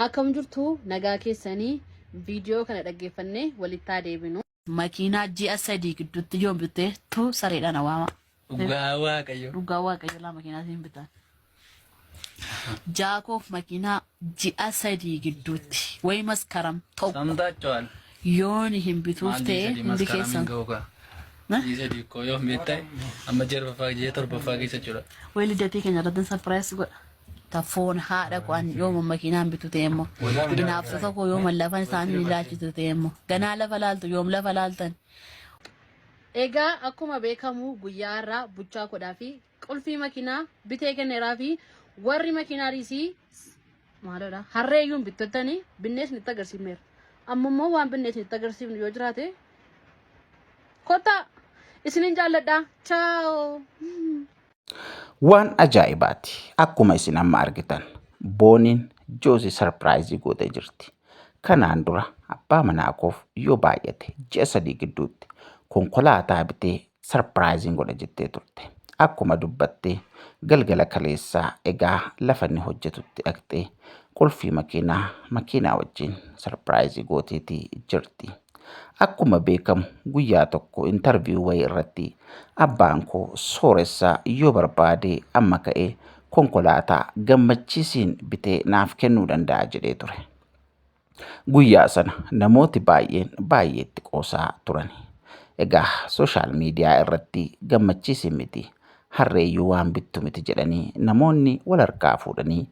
Akkam jirtu nagaa keessanii viidiyoo kana dhaggeeffannee walittaa deebinu. Makiinaa ji'a sadii gidduutti yoon bitte tu sareedhaan awaama. Dhugaa waaqayyo. Dhugaa waaqayyo laa makiinaa siin bitan. Jaakoof makiinaa ji'a sadii gidduutti wayi maskaram tokko Samtaachawal. yooni hin bituuf ta'e hundi keessan. Isa dikkoo yoo miidhee amma jarbaffaa jee torbaffaa keessa jira. Wayi lidatii keenya irratti sarpiraayis godha. Taffoon haadha koo an yooma makiinaan bitu ta'e immoo hinaafsota koo yooma lafan isaanii ilaalchitu ta'e immoo ganaa lafa laaltu yoom lafa laaltan. Egaa akkuma beekamu guyyaa har'aa buchaa kodhaa fi qulfii makiinaa bitee kenneeraa fi warri makiinaa riisii maalodha harree iyyuu bittottanii binnees nutti agarsiifneera. Amma immoo waan binnees nutti agarsiifnu yoo jiraate kottaa isinin jaalladha. Chaaoo. Waan ajaa'ibaati. Akkuma isin amma argitan booniin joosii sarpiraayizii gootee jirti. Kanaan dura abbaa manaa koof yoo baay'ate ji'a sadii gidduutti konkolaataa bitee sarpiraayiziin godha jettee turte. Akkuma dubbattee galgala kaleessaa egaa lafa inni hojjetutti dhaqxee qulfii makiinaa makiinaa wajjin sarpiraayizii gooteetii jirti. Akkuma beekamu guyyaa tokko interview wayii irratti abbaan koo sooressa yoo barbaade amma ka'ee konkolaataa gammachiisiin bitee naaf kennuu danda'a jedhee ture. Guyyaa sana namooti baay'een baay'eetti qoosaa turan. Egaa sooshaal miidiyaa irratti gammachiisiin miti harreeyyuu waan bittu miti jedhanii namoonni wal harkaa fuudhanii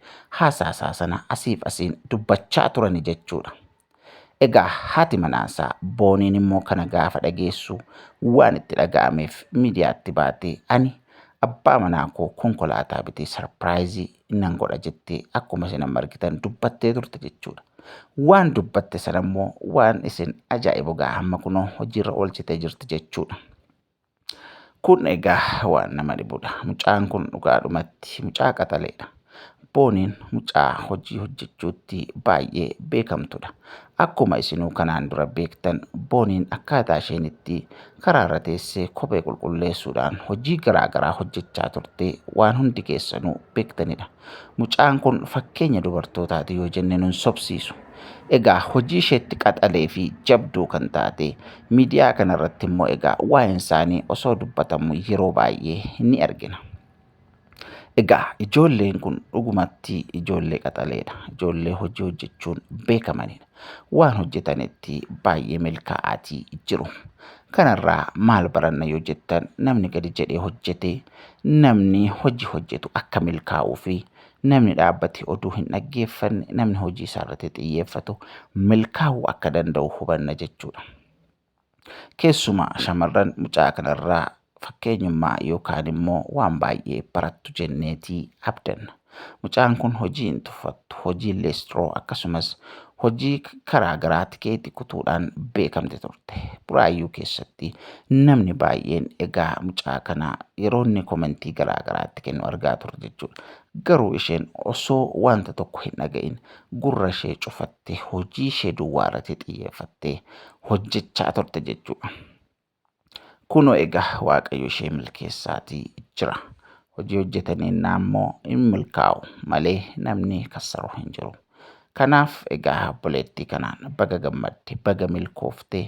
haasaasaa sana asiif asiin dubbachaa turani jechuudha. Egaa haati manaasaa Booniin immoo kana gaafa dhageessu waan itti dhaga'ameef miidiyaatti baatee ani abbaa manaa koo konkolaataa bitee sarpiraayizii nan godha jettee akkuma isin amma argitan dubbattee turte jechuudha. Waan dubbatte sana immoo waan isin ajaa'ibu gaa hamma kunoo hojiirra oolchitee jirti jechuudha. Kun egaa waan nama dhibudha. Mucaan kun dhugaadhumatti mucaa qaxaleedha. Booniin mucaa hojii hojjechuutti baay'ee beekamtudha. Akkuma isinuu kanaan dura beektan booniin akkaataa isheen itti karaarra teessee kophee qulqulleessuudhaan hojii garaa garaa hojjechaa turte waan hundi keessanuu beektanidha. Mucaan kun fakkeenya dubartootaati yoo jenne nun sobsiisu. Egaa hojii isheetti qaxalee fi jabduu kan taate miidiyaa kanarratti immoo egaa waa'een isaanii osoo dubbatamu yeroo baay'ee ni argina. Egaa ijoolleen kun dhugumatti ijoollee qaxaleedha. Ijoollee hojii hojjechuun beekamanidha. waan hojjetanitti baay'ee milkaa'aatii jiru. Kanarraa maal baranna yoo jettan namni gadi jedhee hojjete namni hojii hojjetu akka milkaa'uu fi namni dhaabbate oduu hin dhaggeeffanne namni hojii isaarratti xiyyeeffatu milkaa'uu akka danda'u hubanna jechuudha. Keessumaa shamarran mucaa kanarraa fakkeenyummaa yookaan immoo waan baay'ee barattu jenneetii abdanna. Mucaan kun hojii hin tuffattu, hojii leestroo akkasumas hojii karaa garaa tikeetii kutuudhaan beekamti turte. Buraayyuu keessatti namni baay'een egaa mucaa kana yeroo inni komentii garaa garaatti kennu argaa turre jechuudha. Garuu isheen osoo wanta tokko hin dhaga'in gurra ishee cufattee hojii ishee duwwaa irratti xiyyeeffattee hojjechaa turte jechuudha. Kunoo egaa Waaqayyo ishee milkeessaatii jira. Hojii hojjetanii innaa immoo hin milkaa'u malee namni kassaruu hin jiru. Kanaaf egaa obboleettii kanaan baga gammadde, baga milkoofte,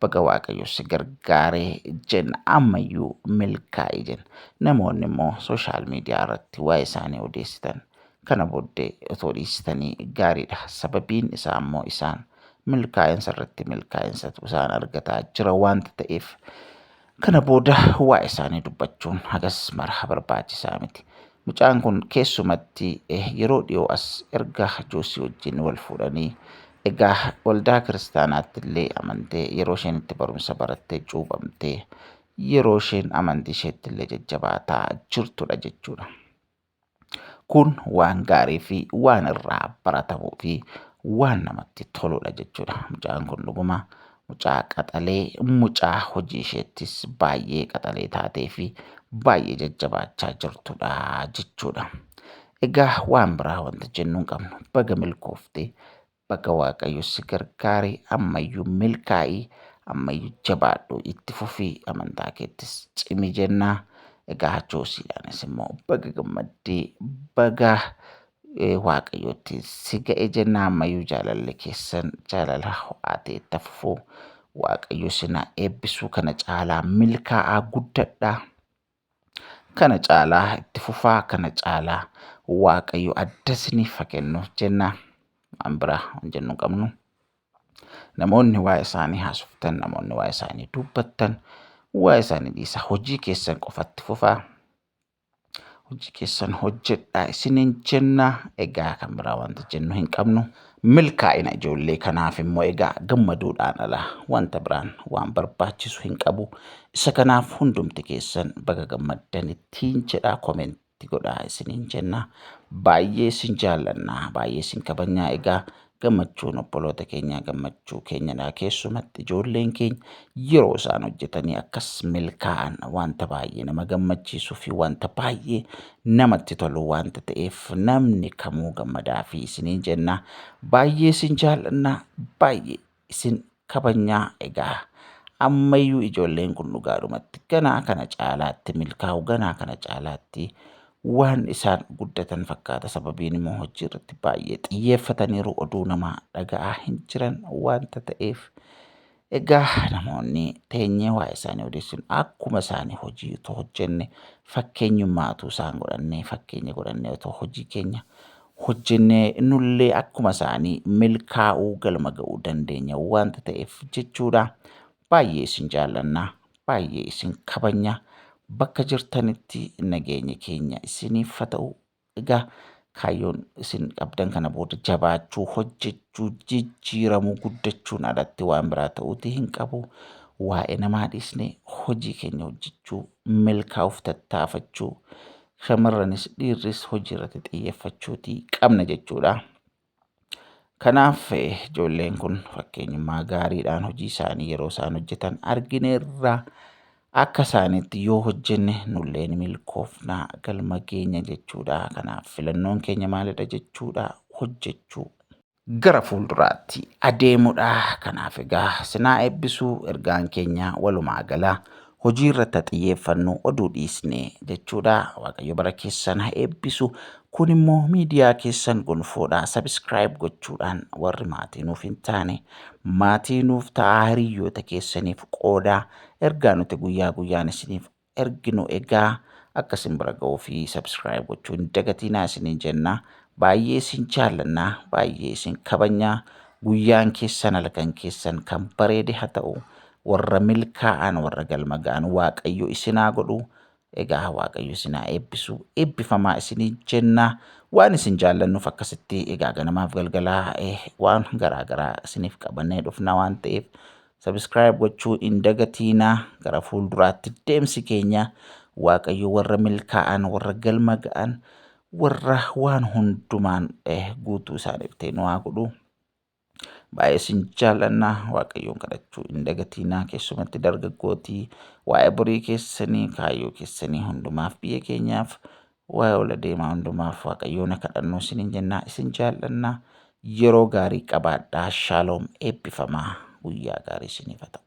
baga waaqayyo si gargaare jenna. Ammayyuu milkaa'i jenna. Namoonni immoo sooshaal miidiyaa irratti waa'ee isaanii odeessitan kana booddee otoo dhiistanii gaariidha. Sababiin isaa immoo isaan milkaa'insa irratti milkaa'insa isaan argataa jira waanta ta'eef Kana booda waa'ee isaanii dubbachuun hagas mara barbaachisaa miti. Mucaan kun keessumatti yeroo dhiyoo as erga Joosii wajjin wal fuudhanii egaa waldaa kiristaanaatti illee amantee yeroo isheen itti barumsa barattee cuuphamtee yeroo isheen amantii isheetti illee jajjabaataa jirtudha jechuudha. Kun waan gaarii fi waan irraa baratamuu fi waan namatti toludha jechuudha. Mucaan kun dhuguma mucaa qaxalee mucaa hojii isheettis baay'ee qaxalee taatee fi baay'ee jajjabaachaa jirtudha jechuudha. Egaa waan biraa wanta jennu hin qabnu baga milkoofte Baga waaqayyo si gargaare ammayyu milkaa'i ammayyu jabaadhu itti fufi amantaa keettis cimi jenna egaa hachoosiidhaanis immoo baga gammadde baga waaqayyootti si ga'e jenna ammayyu jaalalli keessan jaalala ho'aa ta'e itti fufu waaqayyo sina eebbisuu kana caalaa milkaa'aa guddadha. kana caalaa itti fufaa kana caalaa waaqayyo adda isiniif haa kennu jenna waan biraa waan jennu hin qabnu namoonni waa isaanii haasoftan namoonni waa isaanii dubbattan waa isaanii dhiisa hojii keessan qofatti fufaa hojii keessan hojjedhaa isiniin jenna egaa kan biraa wanta jennu hin qabnu Milkaa'ina ijoollee kanaaf immoo egaa gammaduudhaan ala wanta biraan waan barbaachisu hin qabu. Isa kanaaf hundumti keessan baga gammaddan ittiin jedhaa komenti godhaa isiniin jenna. Baay'ee isin jaallanna, baay'ee isin kabajnaa egaa gammachuun obboloota keenyaa gammachuu keenyadha. Keessumatti ijoolleen keenya yeroo isaan hojjetanii akkas milkaa'an wanta baay'ee nama gammachiisuu fi wanta baay'ee namatti tolu wanta ta'eef namni kamuu gammadaa fi isiniin jenna baay'ee isin jaallanna baay'ee isin kabajnaa egaa ammayyuu ijoolleen kun dhugaadhumatti ganaa kana caalaatti milkaa'u ganaa kana caalaatti waan isaan guddatan fakkaata sababiin immoo hojii irratti baay'ee xiyyeeffataniiru oduu namaa dhaga'aa hin jiran wanta ta'eef Egaa namoonni teenyee waa'ee isaanii odeessinu akkuma isaanii hojii utuu hojjenne fakkeenyummaa utuu isaan godhannee fakkeenya godhannee otoo hojii keenya hojjennee nullee akkuma isaanii milkaa'uu galma ga'uu dandeenya wanta ta'eef jechuudha. Baay'ee isin jaallanna, baay'ee isin kabanya. Bakka jirtanitti nageenya keenya isiniif haa ta'u. Egaa kaayyoon isin qabdan kana booda jabaachuu, hojjechuu, jijjiiramuu, guddachuun alatti waan biraa ta'uutii hin qabu. Waa'ee namaa dhiisnee hojii keenya hojjechuu, milkaa'uuf tattaafachuu, shamarranis dhiirris hojii irratti xiyyeeffachuutii qabna jechuudha. Kanaaf ijoolleen kun fakkeenyummaa gaariidhaan hojii isaanii yeroo isaan hojjetan argineerra. Akka isaaniitti yoo hojjenne nulleen milkoofna galma geenya jechuudha. Kanaaf filannoon keenya maalidha jechuudha hojjechuu. Gara fuulduraatti adeemudha. Kanaaf egaa sinaa eebbisuu ergaan keenya walumaa gala hojii irratti haa xiyyeeffannu oduu dhiisne jechuudha waaqayyo bara keessan haa eebbisu kun immoo miidiyaa keessan gonfoodha sabiskiraayib gochuudhaan warri maatii nuuf hin taane maatii nuuf ta'aa hiriyyoota keessaniif qooda ergaa nuti guyyaa guyyaan isiniif erginu egaa akka isin bira ga'uu fi sabiskiraayib gochuu hin dagatiinaa isiniin jenna baay'ee isin jaallanna baay'ee isin kabajna guyyaan keessan halkan keessan kan bareede haa ta'u warra milkaa'an warra galma ga'an waaqayyo isinaa godhu egaa waaqayyo isinaa eebbisu eebbifamaa isinii jenna waan isin jaallannuuf akkasitti egaa ganamaaf galgalaa eh, waan garaa garaa isiniif qabannee dhufna waan ta'eef sabiskiraayib gochuu hin dagatiina gara fuulduraatti deemsi keenya waaqayyo warra milkaa'an warra galma ga'an warra waan hundumaan eh, guutuu isaaniif ta'e nu haa godhu. Baay'ee sin jaallanna waaqayyoon kadhachuu hin dagatiinaa keessumatti dargaggootii waa'ee borii keessanii kaayyoo keessanii hundumaaf biyya keenyaaf waa'ee ol adeemaa hundumaaf waaqayyoon haa kadhannuu isiniin jennaa isin jaallanna yeroo gaarii qabaadhaa shaaloom eebbifamaa guyyaa gaarii isiniif haa ta'u.